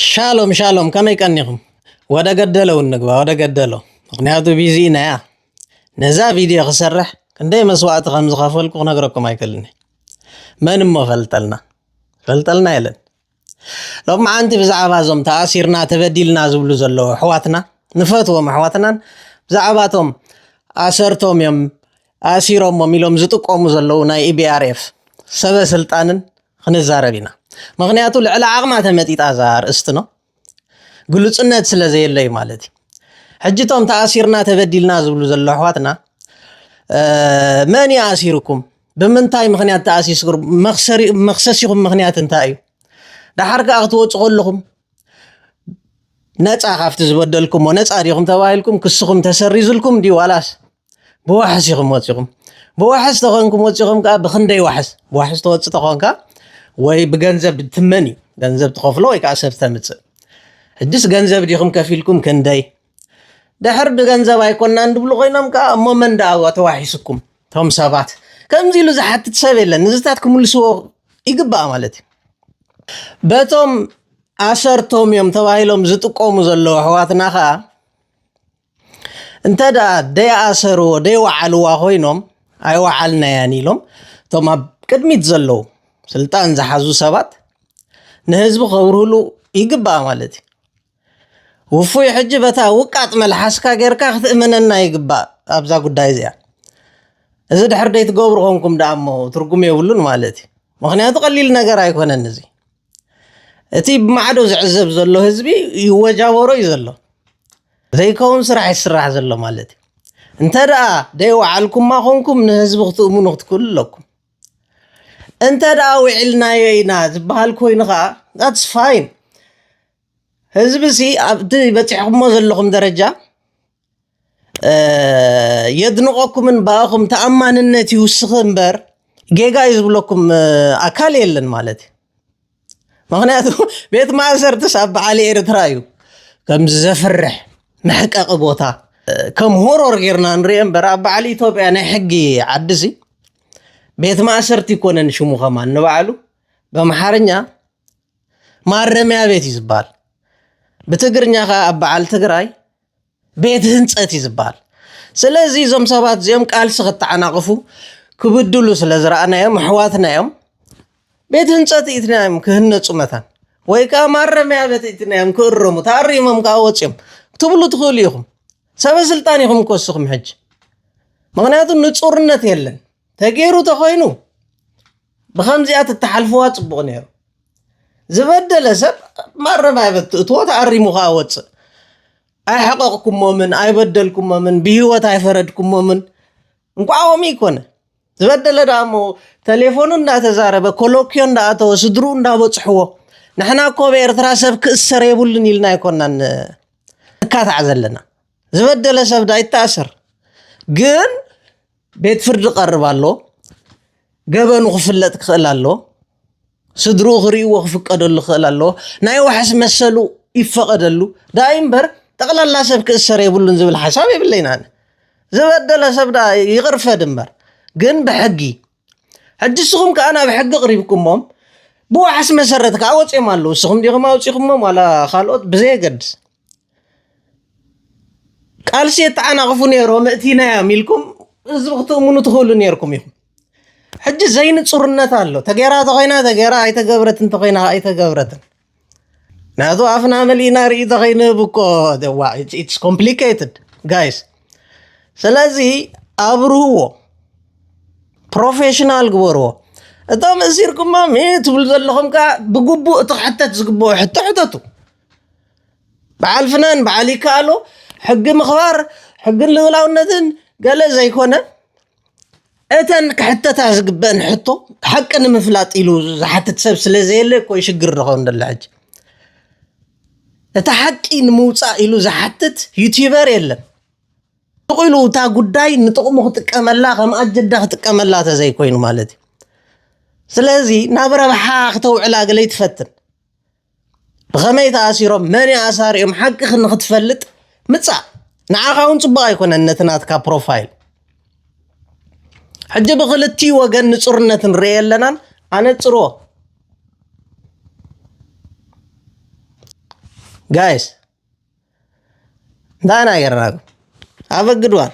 ሻሎም ሻሎም ከመይ ቀኒኹም ወደ ገደለ እውን ንግባ ወደ ገደሎ ምክንያቱ ቢዚ ኢና ያ ነዛ ቪድዮ ክሰርሕ ክንደይ መስዋእቲ ከም ዝኸፈልኩ ክነግረኩም ኣይክእልን መን እሞ ፈልጠልና ፈልጠልና የለን ሎማዓንቲ ብዛዕባ እዞም ተኣሲርና ተበዲልና ዝብሉ ዘለዉ ኣሕዋትና ንፈትዎም ኣሕዋትናን ብዛዕባቶም ኣሰርቶም እዮም ኣሲሮሞም ኢሎም ዝጥቆሙ ዘለዉ ናይ EBRF ሰበ ስልጣንን ክንዛረብ ኢና ምክንያቱ ልዕሊ ዓቕማ ተመጢጣ እዛ ኣርእስቲ ነው ግሉጽነት ስለ ዘየለ እዩ ማለት እዩ ሕጂ እቶም ተኣሲርና ተበዲልና ዝብሉ ዘሎ ኣሕዋትና መን እዩ ኣሲርኩም ብምንታይ ምክንያት ተኣሲስኩም መክሰሲኹም ምክንያት እንታይ እዩ ደሓር ከዓ ክትወፁ ከለኹም ነፃ ካብቲ ዝበደልኩሞ ነፃ ዲኹም ተባሂልኩም ክስኹም ተሰሪዙልኩም ድዩ ዋላስ ብዋሕስ ኢኹም ወፂኹም ብዋሕስ ተኾንኩም ወፂኹም ከዓ ብክንደይ ዋሕስ ብዋሕስ ተወፅ ተኾንካ ወይ ብገንዘብ ትመን እዩ ገንዘብ ትኸፍሎ ወይ ከዓ ሰብ ተምፅእ ሕጅስ ገንዘብ ዲኹም ከፊልኩም ክንደይ ድሕር ድገንዘብ ኣይኮናን ድብሉ ኮይኖም ከኣ እሞ መን ደኣ ተዋሒሱኩም ቶም ሰባት ከምዚ ኢሉ ዝሓትት ሰብ የለን ንዝታት ክምልስዎ ይግባእ ማለት እዩ በቶም ኣሰርቶም እዮም ተባሂሎም ዝጥቀሙ ዘለዉ ኣሕዋትና ከዓ እንተ ደኣ ደይኣሰርዎ ደይወዓልዋ ኮይኖም ኣይወዓልናያን ኢሎም እቶም ኣብ ቅድሚት ዘለዉ ስልጣን ዝሓዙ ሰባት ንህዝቢ ከብርህሉ ይግባእ ማለት እዩ ውፉይ ሕጂ በታ ውቃጥ መልሓስካ ጌርካ ክትእመነና ይግባእ ኣብዛ ጉዳይ እዚኣ እዚ ድሕር ደይትገብሩ ኮንኩም ደኣ እሞ ትርጉም የብሉን ማለት እዩ ምክንያቱ ቀሊል ነገር ኣይኮነን እዚ እቲ ብማዕዶ ዝዕዘብ ዘሎ ህዝቢ ይወጃበሮ እዩ ዘሎ ዘይከውን ስራሕ ይስራሕ ዘሎ ማለት እዩ እንተ ደኣ ደይወዓልኩማ ኮንኩም ንህዝቢ ክትእምኑ ክትክእሉ ኣለኩም እንተ ደኣ ውዒልናዮ ኢና ዝበሃል ኮይኑ ከዓ ዳትስ ፋይን ህዝቢ ሲ ኣብቲ በጺሕኩሞ ዘለኹም ደረጃ የድንቐኩምን ብኣኹም ተኣማንነት ይውስኽ እምበር ጌጋ እዩ ዝብለኩም ኣካል የለን ማለት እዩ ምክንያቱ ቤት ማእሰርትስ ኣብ በዓል ኤርትራ እዩ ከምዚ ዘፍርሕ መሕቀቂ ቦታ ከም ሆሮር ጌርና ንሪኦ እምበር ኣብ በዓል ኢትዮጵያ ናይ ሕጊ ዓዲ ሲ ቤት ማእሰርቲ ይኮነን ሽሙ ከማን ንባዕሉ በምሓርኛ ማረሚያ ቤት እዩ ዝበሃል ብትግርኛ ከዓ ኣብ በዓል ትግራይ ቤት ህንፀት እዩ ዝበሃል ስለዚ እዞም ሰባት እዚኦም ቃልሲ ክተዓናቕፉ ክብድሉ ስለ ዝረኣናዮም ኣሕዋትና እዮም ቤት ህንፀት ኢትና እዮም ክህነፁ መታን ወይ ከዓ ማረሚያ ቤት ኢትና እዮም ክእረሙ ተኣሪሞም ከዓ ወፂኦም ክትብሉ ትኽእሉ ኢኹም ሰበ ስልጣን ኢኹም እኮ እስኹም ሕጂ ምክንያቱ ንፁርነት የለን ተገይሩ ተኮይኑ ብከምዚኣ ትተሓልፍዋ ጽቡቅ ነይሩ ዝበደለ ሰብ ማረምያ በት ትእትዎ ተኣሪሙ ከዓ ወፅእ ኣይሐቀቅኩሞምን ኣይበደልኩሞምን ብሂወት ኣይፈረድኩሞምን እንኳዖም ይኮነ ዝበደለ ደኣ እሞ ተሌፎኑ እንዳተዛረበ ኮሎኪዮ እንዳኣተወ ስድሩ እንዳበፅሕዎ ንሕና እኮ ኣብ ኤርትራ ሰብ ክእሰር የብሉን ኢልና ኣይኮናን እካታዕ ዘለና ዝበደለ ሰብ ዳ ይተኣሰር ግን ቤት ፍርዲ ክቐርብ ኣለዎ። ገበኑ ክፍለጥ ክኽእል ኣለዎ። ስድርኡ ክርእይዎ ክፍቀደሉ ክኽእል ኣለዎ። ናይ ዋሕስ መሰሉ ይፈቐደሉ ዳኣ እምበር ጠቕላላ ሰብ ክእሰር የብሉን ዝብል ሓሳብ የብለይን ኣነ። ዝበደለ ሰብ ዳኣ ይቕርፈድ እምበር ግን ብሕጊ ሕጂ ንስኹም ከዓ ናብ ሕጊ ቅሪብኩሞም ብዋሕስ መሰረት ከዓ ወፂኦም ኣለዉ። ንስኹም ዲኹም ኣውፂኹሞም ዋላ ካልኦት ብዘየገድስ ቃልሲ የተዓናቕፉ ነይሮም እቲናዮም ኢልኩም ህዝቢ ክትእምኑ ትኽእሉ ነይርኩም ኢኹም። ሕጂ ዘይንፁርነት ኣሎ። ተገይራ ተኾይና ተገይራ ኣይተገብረት እንተኾይና ኣይተገብረትን ናቱ ኣፍና መሊእና ርኢ ተኸይንህብ እኮ ኢትስ ኮምፕሊኬትድ ጋይስ። ስለዚ ኣብርህዎ፣ ፕሮፌሽናል ግበርዎ። እቶም እሲርኩሞም ትብሉ ዘለኹም ከዓ ብግቡእ እቲ ክሕተት ዝግብኦ ሕቶ ሕተቱ። በዓል ፍናን በዓል ይከኣሎ ሕጊ ምኽባር ሕግን ልኡላውነትን ገለ ዘይኮነ እተን ክሕተታ ዝግበአን ሕቶ ሓቂ ንምፍላጥ ኢሉ ዝሓትት ሰብ ስለ ዘየለ እኮ እዩ ሽግር ንኸውን ደሎ ሕጂ እቲ ሓቂ ንምውፃእ ኢሉ ዝሓትት ዩቲበር የለን ጥቕ ኢሉ እታ ጉዳይ ንጥቕሙ ክጥቀመላ ከም ኣጀዳ ክጥቀመላ ተዘይኮይኑ ማለት እዩ ስለዚ ናብ ረብሓ ክተውዕላ ገለ ይትፈትን ብኸመይ ተኣሲሮም መን እዩ ኣሳሪኦም ሓቂ ንክትፈልጥ ምጻእ ንዓኻ እውን ፅቡቕ ኣይኮነን ነቲ ናትካ ፕሮፋይል ሕጂ ብክልቲኡ ወገን ንፁርነት ንርኤ ኣለናን ኣነፅርዎ ጋይስ እንታይ ኢና ጌርናኩም ኣበግድዋን